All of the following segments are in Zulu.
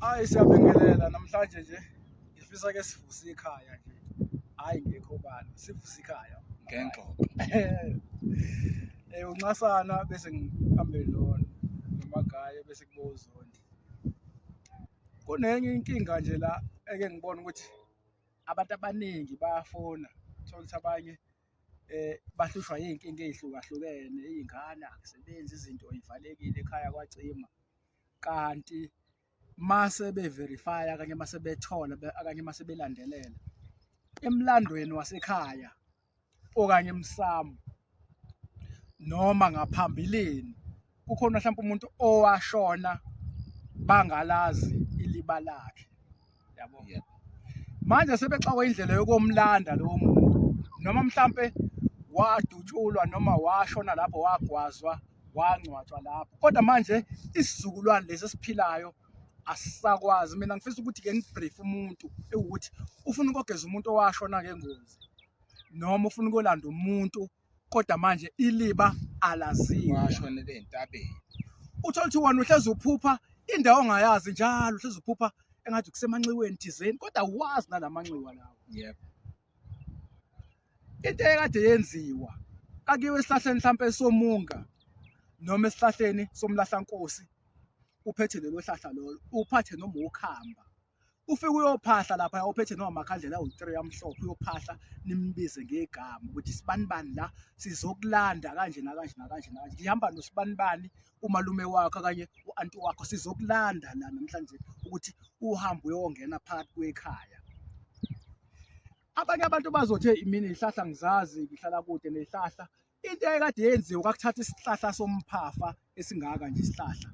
Hayi siyabingelela namhlanje nje ngifisa ke sivuse ikhaya nje. Hayi ngekho bani sivuse ikhaya. Ngengxoxo. Eh uncasana bese ngihambe lona nomagaye bese kubo uzondi. Kunenye inkinga nje la eke ngibona ukuthi abantu abaningi bayafona thola ukuthi abanye eh bahlushwa izinkinga ezihlukahlukene izingane akusebenzi izinto ivalekile ekhaya kwacima kanti mase beverify kanye mase bethola kanye mase belandelela emlandweni wasekhaya okanye emsamo noma ngaphambilini kukhona mhlawumbe umuntu owashona bangalazi iliba lakhe yabo yeah. manje sebexakwa indlela yokomlanda lowo muntu noma mhlambe wadutshulwa noma washona lapho wagwazwa wangcwatshwa lapho kodwa manje isizukulwane lesi esiphilayo asisakwazi mina ngifisa ukuthi ke ngibrief umuntu ewukuthi ufuna ukogeza umuntu owashona ngengozi noma ufuna ukolanda umuntu kodwa manje iliba alaziwa washonele entabeni uthola ukuthi wona uhlezi uphupha indawo ongayazi njalo uhlezi uphupha engathi kusemanxiweni thizeni kodwa wazi nalamanxiwa lawo yebo into ekade yenziwa kakiwe esihlahleni mhlawumpe somunga noma esihlahleni somlahlankosi uphethe lelo hlahla lolo uphathe noma ukhamba ufike uyophahla lapha ophethe noma makhandlela awu-three amhlophe uyophahla nimbize ngegama ukuthi sibanibani la sizokulanda kanje nakanje nakanje nakanje ngihamba nosibanibani umalume wakho okanye u-anti wakho sizokulanda la namhlanje ukuthi uhambe uyongena phakathi kwekhaya abanye abantu bazothi imini ihlahla ngizazi ngihlala kude nehlahla into ekade yenziwe kwakuthatha isihlahla somphafa esingaka nje isihlahla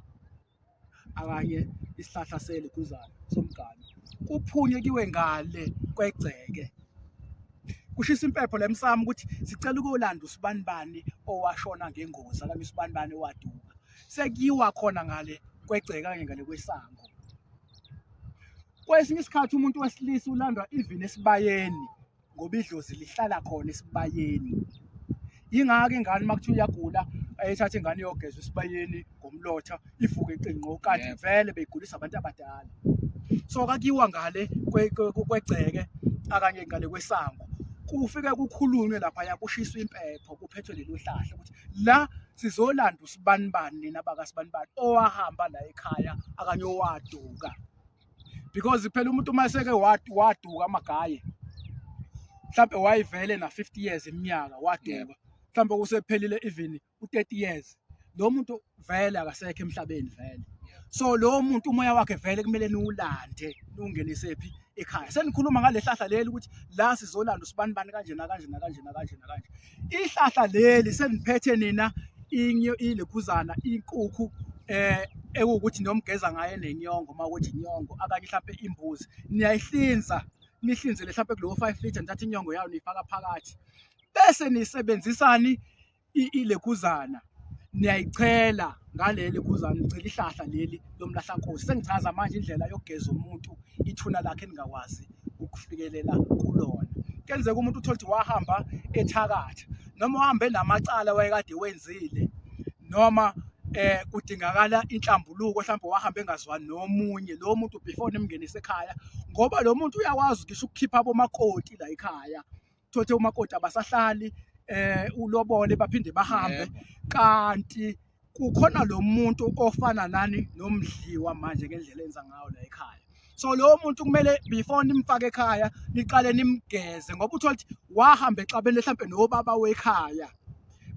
akanye isihlahla seliguzane somgane kuphunywe kiwe ngale kwegceke kushisa impepho lemsamo ukuthi sicela ukuyolanda usibanibani owashona ngengozi akanye usibanibani owaduka sekuyiwa khona ngale kwegceke kanye ngale kwesango kwesinye isikhathi umuntu wesilisa ulandwa even esibayeni ngoba idlozi lihlala khona esibayeni yingakho ingane uma kuthiwa iyagula ayithathe ingane iyogeza esibayeni ngomlotha ivuke iqinqo kanti Yebo. vele beyigulisa abantu abadala so kakiwa ngale kwe- kwe- kwe- kwegceke akanye ngale kwesango kufike kukhulunywe laphaya kushiswa impepho kuphethwe lelo hlahla ukuthi la sizolanda usibanibani nina bakasibanibani owahamba la ekhaya akanye owaduka because phela umuntu uma eseke waduka amagaye mhlambe wayivele na 50 years iminyaka waduka mhlambe kusephelile even u 30 years lo muntu vele akasekho emhlabeni vele so lo muntu umoya wakhe vele kumele niwulande niwungenise phi ekhaya senikhuluma ngale hlahla leli ukuthi la sizolanda usibani bani kanje nakanje nakanje nakanje nakanje ihlahla leli seniphethe nina ilekhuzana inkukhu eh ekuwukuthi nomgeza ngaye nenyongo uma ukuthi inyongo akanye mhlawumbe imbuzi niyayihlinza nihlinzele mhlawumbe kulowo 5 liter nithatha inyongo yayo niyifaka phakathi bese nisebenzisani ilekhuzana niyayichela ngaleli khuzana ngicela ihlahla leli lomlahlankosi sengichaza manje indlela yokugeza umuntu ithuna lakhe eningakwazi ukufikelela kulona kenzeka umuntu uthole ukuthi wahamba ethakatha noma uhambe namacala wayekade wenzile noma eh kudingakala inhlambuluko mhlawumbe wahamba engazwani nomunye lo muntu before nimngenise ekhaya ngoba lo muntu uyakwazi ngisho ukukhipha abomakoti la ekhaya thothe umakoti abasahlali eh ulobole baphinde bahambe kanti kukhona lo muntu ofana nani nomdliwa manje ngendlela enza ngayo la ekhaya so lowo muntu kumele before nimfake ekhaya niqale nimgeze ngoba uthola ukuthi wahamba exabene mhlawumbe nobaba wekhaya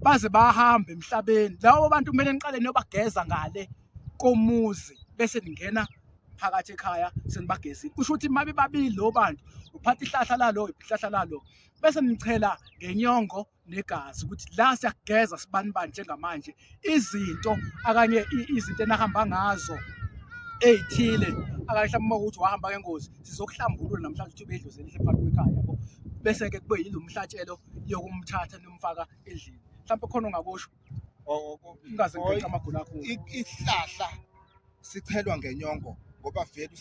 baze bahambe emhlabeni labo bantu kumele niqale niyobageza ngale komuzi bese ningena phakathi ekhaya senibagezile kusho ukuthi uma bebabili lo bantu uphatha ihlahla lalo ihlahla lalo bese nichela ngenyongo negazi ukuthi la siyageza sibanibani njengamanje izinto akanye izinto enahamba ngazo ey'thile akanye mhlawumbe uma ukuthi wahamba ngengozi sizokuhlambulula namhlanje ukuthi ubedlozi elihle phakathi kwekhaya yabo bese-ke kube yilo mhlatshelo yokumthatha nomfaka endlini mhlawumbe khona ongakusho ungaze ngiphethe amagula akho ihlahla sichelwa ngenyongo ngoba vele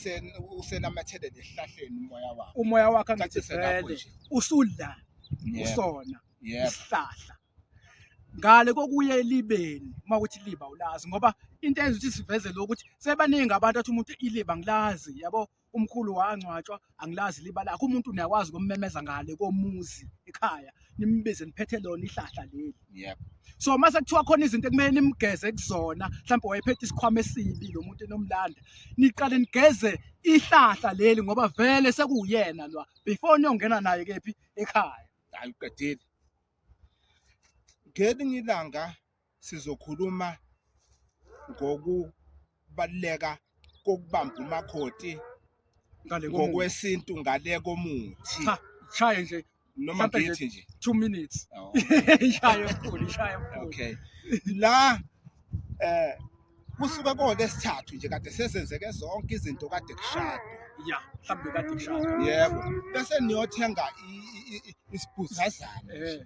usenamathele nesihlahleni umoya wakho umoya wakho angathi vele usudla usona isihlahla ngale kokuye elibeni uma ukuthi liba ulazi ngoba into eyenza ukuthi siveze lokuthi sebaningi abantu athi umuntu iliba ngilazi yabo umkhulu wangcwatshwa angilazi liba lakho umuntu niyakwazi ukummemeza ngale komuzi ekhaya nimbize niphethe lona ihlahla leli yep so mase kuthiwa khona izinto ekumele nimgeze kuzona mhlawumbe wayephethe isikhwama esibi lo muntu enomlanda niqale nigeze ihlahla leli ngoba vele sekuyena lwa before niyongena naye kephi ekhaya hayi uqedile ngelinye ilanga sizokhuluma ngokubaluleka kokubamba umakoti ngale komuthi. ngokwesintu ngale komuthi Cha, shaye nje noma mhlampe nje- ngithi nje 2 minutes Oh, ishaye mkhulu ishaye mkhulu okay la eh kusuke kode sithathu nje kade sesenzeke zonke izinto kade kushada ya mhlambe kade kushaya yebo bese niyothenga i- i- i- isibhuzazana eh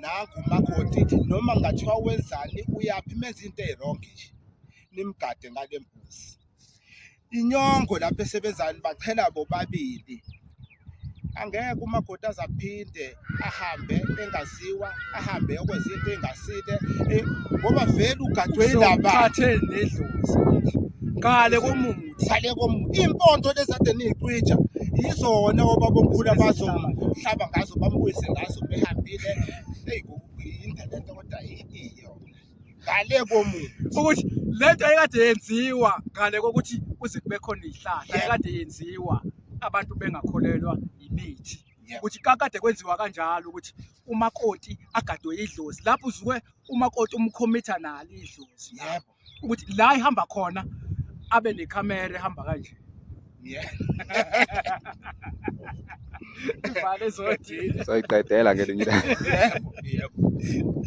nangu umakoti noma ngathiwa wenzani uyaphi menza into eyi-wrong nje nimgade ngale mbuzi inyongo lapho esebenzani bachela bobabili angeke umakoti azaphinde ahambe engaziwa ahambe okwenza into engasile eh, ngoba vele ugadwe ilaba athe nedlozi ngale komuntu sale kom impondo lezade niyicija yizona obabomkhulu abazohlaba ngazo bambuyise ngazo behambile eyi yinde le nto kodwa iyo ngale komuntu ukuthi le nto ekade yenziwa ngale kokuthi kuze kube khona ihlahla ekade yenziwa abantu bengakholelwa yimithi ukuthi kakade kwenziwa kanjalo ukuthi umakoti agadwe idlozi lapho uzuke umakoti umkhomitha nalo idlozi yebo ukuthi la ihamba khona abe nekhamera ehamba kanje ivale zothi soyiqedela ngelinye ilanga.